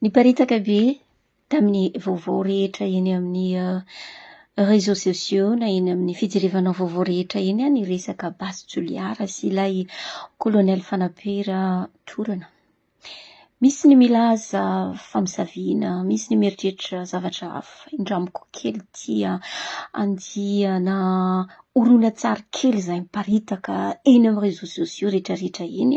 Niparitaka be tamin'ny vaovao rehetra eny amin'ny réseaux sociaux na eny amin'ny fijirivana vaovao rehetra eny ny resaka Basy Toliara sy ilay Kolonely Fanabe Ratorana. Misy ny milaza fa misaviana, misy ny mieritreritra zavatra hafa. Indramiko kely ity andiana horonantsary kely izay miparitaka eny amin'ny réseaux sociaux rehetra rehetra eny.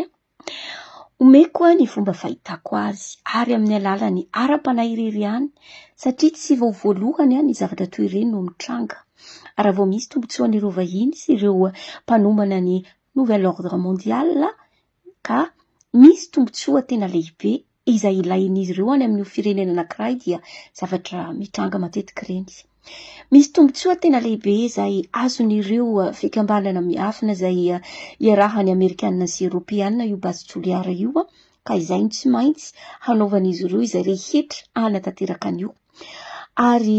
Omeko ahy ny fomba fahitako azy ary amin'ny alalan'ny ara-panahy irery ihany satria tsy vao voalohany aho ny zavatra toy ireny no mitranga. Ary raha vao misy tombontsoan'ireo vahiny sy ireo mpanombana ny Nouvel Ordre Mondial ka misy tombontsoa tena lehibe izay ilain'izy ireo any amin'io firenena anankiray dia zavatra mitranga matetika ireny. Misy tombontsoa tena lehibe izay azon'ireo eh, fikambanana miafina izay eh, iarahan'ny Amerikana sy Eropeana io basy Toliara io eh, ka izay no tsy maintsy hanaovan'izy ireo izay rehetra hanatanteraka an'io. Ary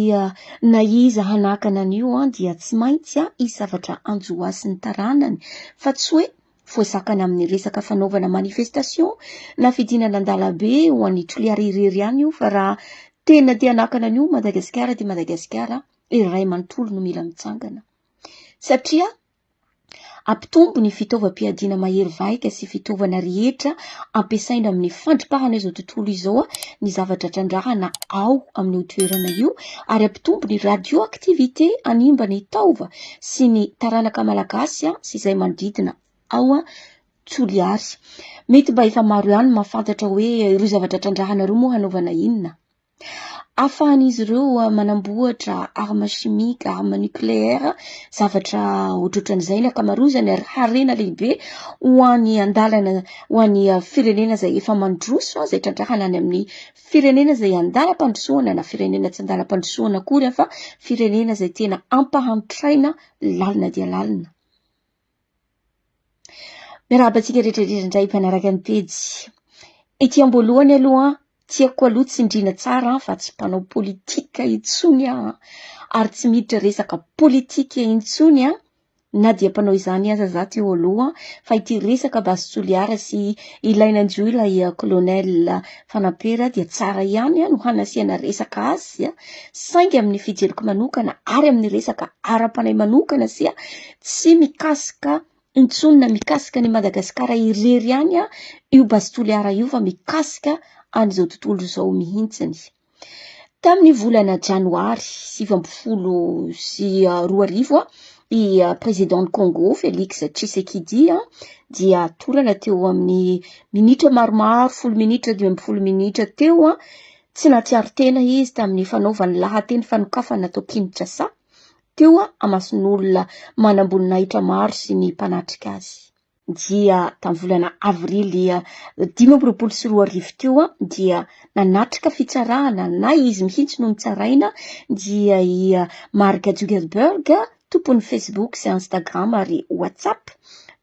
na iza hanakana an'io dia tsy maintsy hisavatra anjoasy ny taranany fa tsy hoe Voazakana amin'ny resaka fanaovana manifestation na fidinana an-dalambe ho an'i Toliara irery ihany io fa raha tena te hanakana an'io Madagasikara dia Madagasikara iray manontolo no mila mitsangana. Satria ampitombo ny fitaovam-piadiana mahery vahika sy fitaovana rehetra ampiasaina amin'ny fandripahana izao tontolo izao ny zavatra trandrahana ao amin'io toerana io ary ampitombo ny radioactivité hanimba ny taova sy ny taranaka malagasy sy izay manodidina ao Toliary. Mety mba efa maro ihany mahafantatra hoe ireo zavatra trandrahana ireo moa hanaovana inona? Afahan'izy ireo manamboatra arme chimique, arme nucléaire, zavatra ohatrohatran'izay ny akamarozany ary harena lehibe ho an'ny andalana ho an'ny firenena izay efa mandroso izay trandrahana any amin'ny Firenena izay an-dalam-pandrosoana na firenena tsy an-dalam-pandrosoana akory aho fa firenena izay tena ampahantraina lalina dia lalina. Miarahaba antsika rehetrarehetra indray mpanaraka ny pejy. Ety am-boalohany aloha tiako aloha tsindriana tsara fa tsy mpanao politika intsony aho ary tsy miditra resaka politika intsony aho Na dia mpanao izany aza za teo aloha fa ity resaka Base Toliara sy ilay nanjo ilay Colonel Fanampera dia tsara ihany no hanasiana resaka azy saingy amin'ny fijeriko manokana ary amin'ny resaka ara-panahy manokana sy tsy mikasika intsony na mikasika ny Madagasikara irery ihany io Base Toliara io fa mikasika an'izao tontolo izao mihitsiny. Tamin'ny volana janoary sivy amby folo sy roa arivo, i Président Congo Félix Tshisekedi dia torana teo amin'ny minitra maromaro, folo minitra, dimy ambin'ny folo minitra teo. Tsy nahatsiaro tena izy tamin'ny fanaovany lahateny fanokafana tao Kinshasa, teo amason'olona manam-boninahitra maro sy ny mpanatrika azy. dia tamin'ny volana avrily dimy amby roapolo sy roa arivo teo dia nanatrika fitsarana na izy mihitsy no nitsaraina dia i Mark Zuckerberg tompon'ny Facebook sy Instagram ary WhatsApp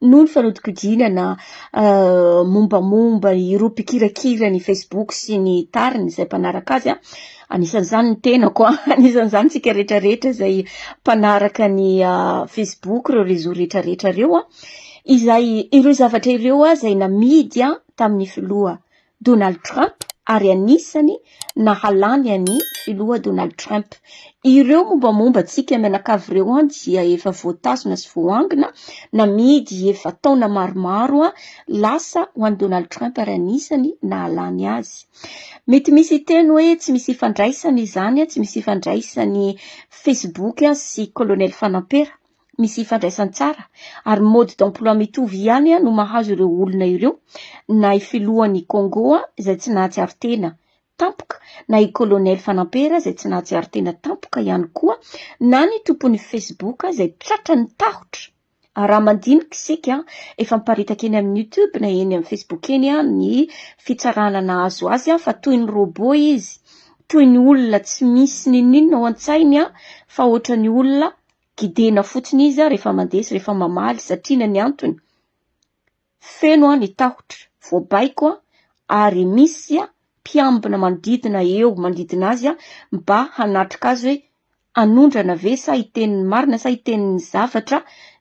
noho ny fanodinkodinana uh, mombamomba ireo mpikirakira ny Facebook sy ny tariny izay mpanaraka azy. Anisan'izany ny tenako, anisan'izany tsika rehetrarehetra izay mpanaraka ny uh, Facebook, ireo réseau rehetrarehetra ireo. izay ireo zavatra ireo izay namidy tamin'ny filoha Donald Trump ary anisany nahalany an'i filoha Donald Trump. Ireo mombamomba antsika mianakavy ireo dia efa voatazona sy voangona, namidy efa taona maromaro lasa ho an'i Donald Trump ary anisany nahalany azy. Mety misy hiteny hoe tsy misy ifandraisany izany, tsy misy ifandraisany Facebook sy Colonel Fanampera. misy ifandraisany tsara ary mode d'emploi mitovy ihany no mahazo ireo olona ireo na i filohan'i Congo izay tsy nahatsiaro tena tampoka na i colonel Fanampera izay tsy nahatsiaro tena tampoka ihany koa na ny tompon'ny Facebook izay tratra ny tahotra raha mandinika isika efa miparitaka eny amin'ny YouTube na eny amin'ny Facebook eny ny fitsarana nahazo azy fa toy ny robot izy toy ny olona tsy misy n'inon'inona ao an-tsainy fa ohatran'ny olona Gidina fotsiny izy aho rehefa mandeha sy rehefa mamaly satria na ny antony, feno aho ny tahotra, voabaiko aho ary misy mpiambina manodidina eo manodidina azy mba hanatrika azy hoe hanondrana ve sa hiteny ny marina sa hiteny ny zavatra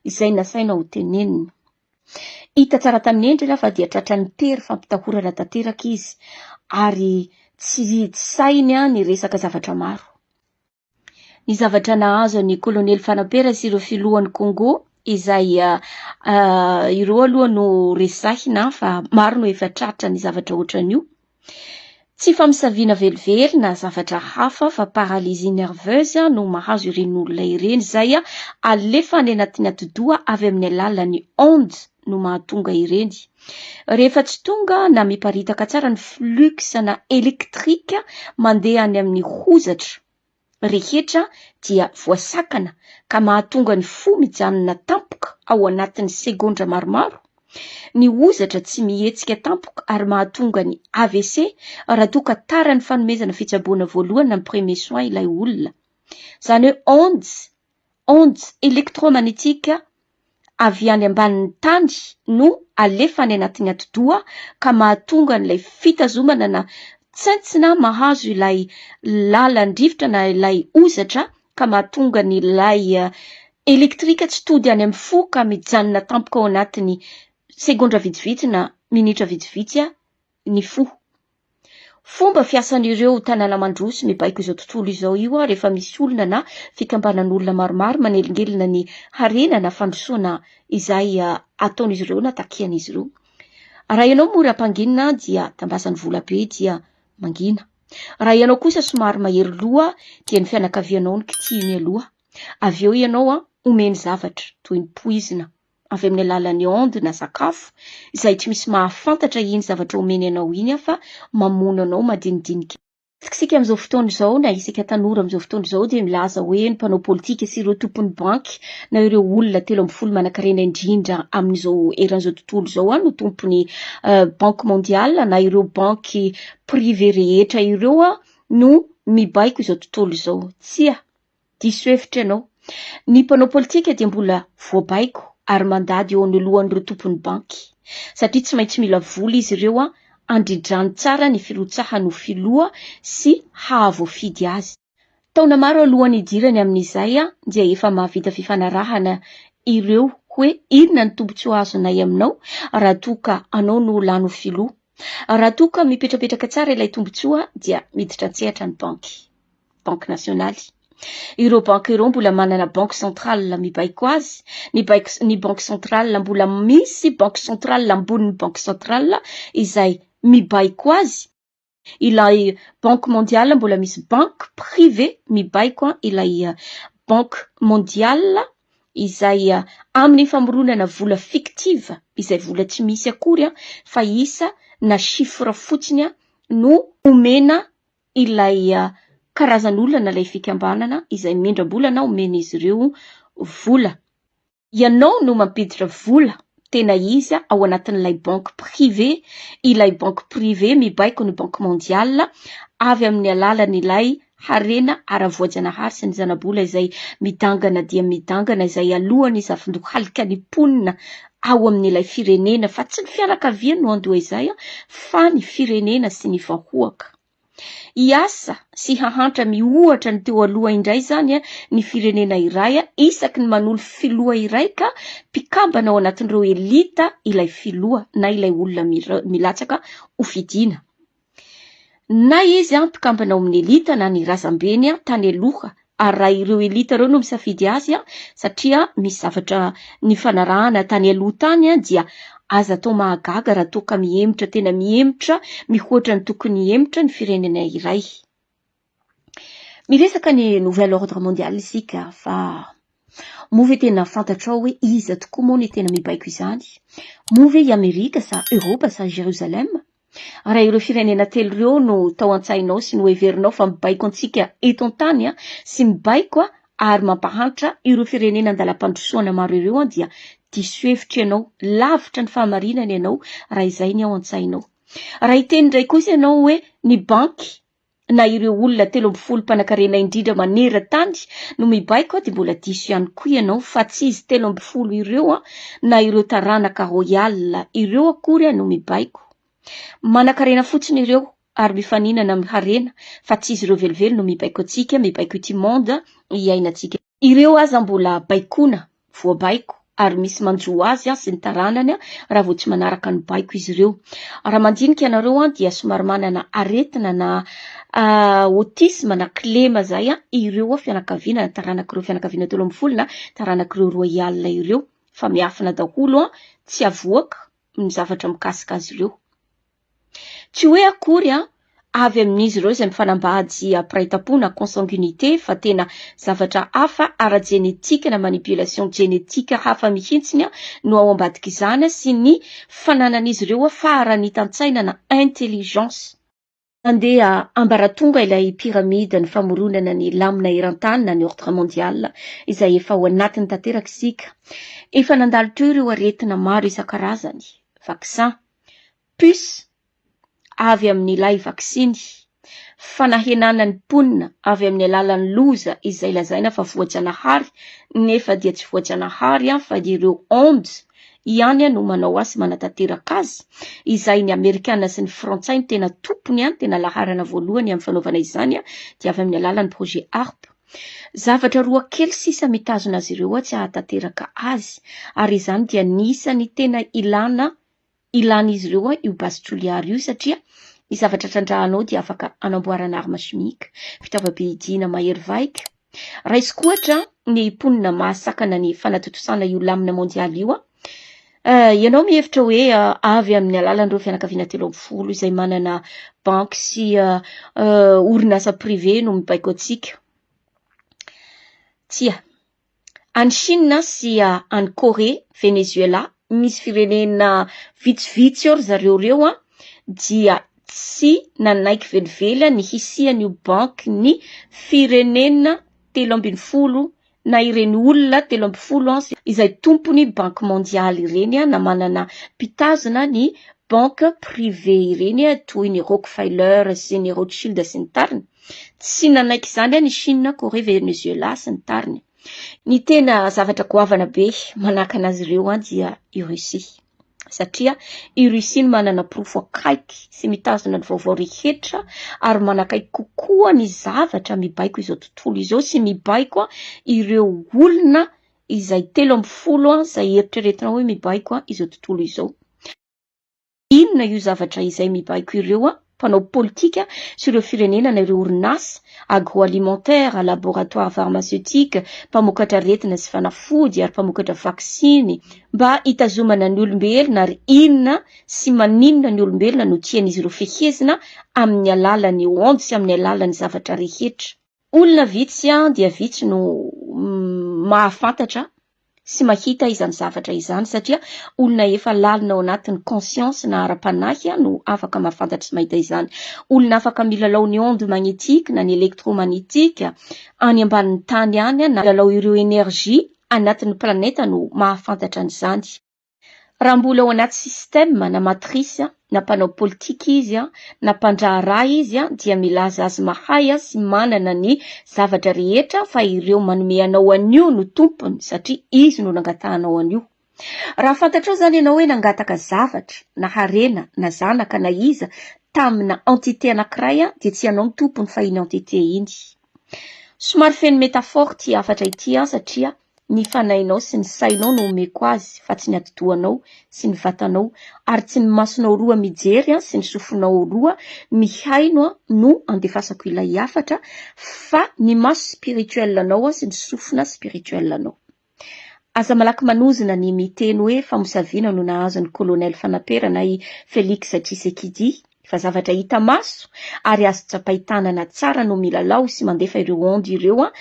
izay nasaina ho tenenina. Hita tsara tamin'ny endriny aho fa dia tratran'ny tery fampitahorana tanteraka izy ary tsy sahiny ny resaka zavatra maro. ny zavatra nahazo an'i Kolonely Fanampera sy ireo filohan'i Kongo izay ireo aloha no resahina fa maro no efa tratra ny zavatra ohatran'io. Tsy famisaviana velively na zavatra hafa fa paralysie nerveuse no mahazo ireny olona ireny izay alefa any anatin'ny atidoha avy amin'ny alalan'ny ondes no mahatonga ireny. Rehefa tsy tonga na miparitaka tsara ny flux na électrique mandeha any amin'ny hozatra rehetra dia voasakana ka mahatonga ny fo mijanona tampoka ao anatin'ny segondra maromaro, ny hozatra tsy mihetsika tampoka ary mahatonga ny AVC raha toa ka tara ny fanomezana fitsaboana voalohany na ny premier soin ilay olona. Izany hoe ondes ondes électromagnétiques, avy any ambanin'ny tany no alefa any anatin'ny atidoha ka mahatonga an'ilay fitazomana na tsentsina mahazo ilay lalan-drivotra na ilay ozatra ka mahatonga ny lay elektrika tsy tody any amin'ny fo ka mijanona tampoka ao anatin'ny segondra vitsivitsy na minitra vitsivitsy ny fo. Fomba fiasan'ireo tanàna mandroso mibaiko izao tontolo izao io rehefa misy olona na fikambanan'olona maromaro manelingelina ny harena na fandrosoana izay ataon'izy ireo na takian'izy ireo. Raha ianao mora hampanginina dia tambazany vola be dia mangina. Raha ianao kosa somary mahery loha dia ny fianakavianao no kitihiny aloha. Avy eo ianao omeny zavatra toy ny poizina. avy amin'ny alalan'ny onde na sakafo izay tsy misy mahafantatra iny zavatra omeny anao iny afa mamono anao madinidinika. Isika amin'izao fotoana izao na isika tanora amin'izao fotoana izao dia milaza hoe ny mpanao politika sy ireo tompon'ny banky na ireo olona telo ambin'ny folo manankarena indrindra amin'izao eran'izao tontolo izao an no tompon'ny banque mondiale na ireo banky prive rehetra ireo an no mibaiko izao tontolo izao. Tsia. Diso hevitra ianao. Ny mpanao politika dia mbola voabaiko ary mandady eo anoloan'ireo tompon'ny banky. Satria tsy maintsy mila vola izy ireo handrindrany tsara ny firotsahany ho filoha sy hahavoafidy azy. Taona maro alohan'ny hidirany amin'izay dia efa mahavita fifanarahana ireo hoe inona ny tombontsoa azonay aminao raha toa ka anao no lany ho filoha. Raha toa ka mipetrapetraka tsara ilay tombontsoa dia miditra an-tsehatra ny banky. Banky nasionaly. Ireo banky ireo mbola manana banky centrale mibaiko azy, ny baiko ny banky centrale mbola misy banky centrale ambonin'ny banky centrale izay mibaiko azy, ilay banky mondiale mbola misy banky privé mibaiko ilay banky mondiale izay amin'ny famoronana vola fictive izay vola tsy misy akory fa isa na chiffre fotsiny no omena ilay karazan'olona ilay fikambanana izay mindram-bola na omen'izy ireo vola. Ianao no mampiditra vola tena izy ao anatin'ilay banque privée, ilay banque privée mibaiko ny banque mondiale avy amin'ny alalan'ilay harena ara-voajanahary sy ny zana-bola izay midangana dia midangana izay alohan'ny zafindohalika ny mponina ao amin'ilay firenena fa tsy ny fianakaviany no handoa izay fa ny firenena sy ny vahoaka. Hiasa sy hahantra miohatra ny teo aloha indray izany ny firenena iray isaky ny manolo filoha iray ka mpikambana ao anatin'ireo elita ilay filoha na ilay olona milatsaka ho fidiana. Na izy mpikambana ao amin'ny elita na ny razambeny tany aloha ary raha ireo elita ireo no misafidy azy satria misy zavatra nifanarahana tany aloha tany dia aza atao mahagaga raha toa ka mihemotra tena mihemotra mihoatra ny tokony hihemotra ny firenena iray. Miresaka ny nouvel ordre mondial isika fa moa ve tena fantatrao hoe iza tokoa moa ny tena mibaiko izany? Moa ve i Amerika sa Eoropa sa Jerusalem? Raha ireo firenena telo ireo no tao an-tsainao sy noheverinao fa mibaiko antsika eto an-tany sy mibaiko ary mampahantra ireo firenena an-dalam-pandrosoana maro ireo dia diso hevitra ianao, lavitra ny fahamarinana ianao raha izay ny ao an-tsainao. Raha hiteny indray kosa ianao hoe ny banky na ireo olona telo ambin'ny folo mpanankarena indrindra maneran-tany no mibaiko dia mbola diso ihany koa ianao fa tsy izy telo ambin'ny folo ireo na ireo taranaka royal ireo akory no mibaiko. Manankarena fotsiny ireo ary mifaninana amin'ny harena fa tsy izy ireo velively no mibaiko antsika, mibaiko ity monde iainantsika. Ireo aza mbola baikoana, voabaiko, ary misy manjo azy sy ny taranany raha vao tsy manaraka ny baiko izy ireo. Raha mandinika anareo dia somary manana aretina na autisme na kilema izay ireo fianakaviana na taranak'ireo fianakaviana telo ambin'ny folo na taranak'ireo royale ireo fa miafina daholo tsy avoaka ny zavatra mikasika azy ireo. Tsy hoe akory avy amin'izy ireo izay mifanambady ampiraitampo na consanguinité fa tena zavatra hafa ara-jenetika na manipulation jenetika hafa mihitsy no ao ambadik'izany sy ny fananan'izy ireo faharanitan-tsaina na intelligence. Nandeha ambaratonga ilay pyramide ny famoronana ny lamina eran-tany na ny ordre mondial izay efa ao anatiny tanteraka isika. Efa nandalo teo ireo aretina maro isan-karazany, vaccins, puce, avy amin'ilay vaksiny, fanahenana ny mponina avy amin'ny alalan'ny loza izay lazaina fa voajanahary nefa dia tsy voajanahary fa dia ireo ondes ihany no manao azy sy manatanteraka azy, izay ny amerikana sy ny frantsay no tena tompony, tena laharana voalohany amin'ny fanaovana izany dia avy amin'ny alalan'ny projet Harpe. Zavatra roa kely sisa mitazona azy ireo atsy hahatanteraka azy, ary izany dia ny isan'ny tena ilana ilan'izy ireo io base Juliard io satria ny zavatra trandrahana ao dia afaka hanamboarana arme chimique, fitaovam-pihidiana mahery vaika. Raisiko ohatra ny mponina mahasakana ny fanatontosana io lamina mondialy io aho, Ianao mihevitra hoe avy amin'ny alalan'ireo fianakaviana telo ambin'ny folo izay manana banky sy orinasa privé no mibaiko antsika? Tsia. Any Chine sy any Corée, Venezuela, misy firenena vitsivitsy ao ry zareo ireo dia tsy nanaiky velively ny hisian'io bankin'ny firenena telo ambin'ny folo na ireny olona telo ambin'ny folo ans izay tompon'ny banky mondialy ireny na manana mpitazona ny banky privé ireny toy ny Rockefeller sy ny Rothschild sy ny tariny. Tsy nanaiky izany any i Chine, Corée, Venezuela sy ny tariny. Ny tena zavatra goavana be manakana azy ireo dia i Russie. satria i Russie no manana porofo akaiky sy mitazona ny vaovao rehetra ary manakaiky kokoa ny zavatra mibaiko izao tontolo izao sy mibaiko ireo olona izay telo ambin'ny folo izay eritreretina hoe mibaiko izao tontolo izao. Inona io zavatra izay mibaiko ireo an? mpanao politika sy ireo firenena na ireo orinasa, agroalimentaire, laboratoire pharmaceutique, mpamokatra aretina sy fanafody ary mpamokatra vaksiny, mba hitazomana ny olombelona ary inona sy maninona ny olombelona no tian'izy ireo fehezina amin'ny alalan'ny onde sy amin'ny alalan'ny zavatra rehetra. Olona vitsy dia vitsy no mahafantatra sy mahita izany zavatra izany satria olona efa lalina ao anatin'ny conscience na ara-panahy no afaka mahafantatra sy mahita izany. Olona afaka milalao ny onde magnétique na ny électromagnétique any ambanin'ny tany any na milalao ireo énergie anatin'ny planète no mahafantatra an'izany. Raha mbola ao anaty système na matrice na mpanao politika izy na mpandraharaha izy dia milaza azy mahay sy manana ny zavatra rehetra fa ireo manome anao an'io no tompony satria izy no nangatahanao an'io. Raha fantatrao izany ianao hoe nangataka zavatra na harena na zanaka na iza tamina entité anankiray dia tsy ianao no tompony fa iny entité iny. Somary feno métaphore ity hafatra ity satria Ny fanahinao sy ny sainao no omeko azy fa tsy ny atidohanao sy ny vatanao, ary tsy ny masonao roa mijery sy ny sofinao roa mihaino no andefasako ilay hafatra fa ny maso spirituel anao sy ny sofina spirituel anao. Aza malaky manozona ny miteny hoe famosaviana no nahazo ny Colonel Fanaperana i Felix Tshisekidi Fa zavatra hita maso ary azo tsapain-tanana tsara no milalao sy mandefa ireo ondes ireo an,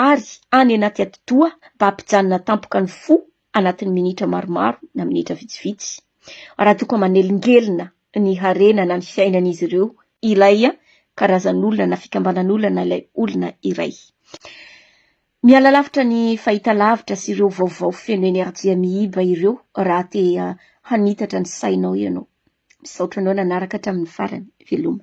ary any anaty atidoha mba hampijanona tampoka ny fo anatin'ny minitra maromaro na minitra vitsivitsy. Raha toa ka manelingelina ny harena na ny fiainan'izy ireo ilay karazan'olona na fikambanan'olona na ilay olona iray. Miala lavitra ny fahitalavitra sy ireo vaovao feno enerjia miiba ireo raha te hanitatra ny sainao ianao. Misaotra anao nanaraka hatramin'ny farany. Veloma.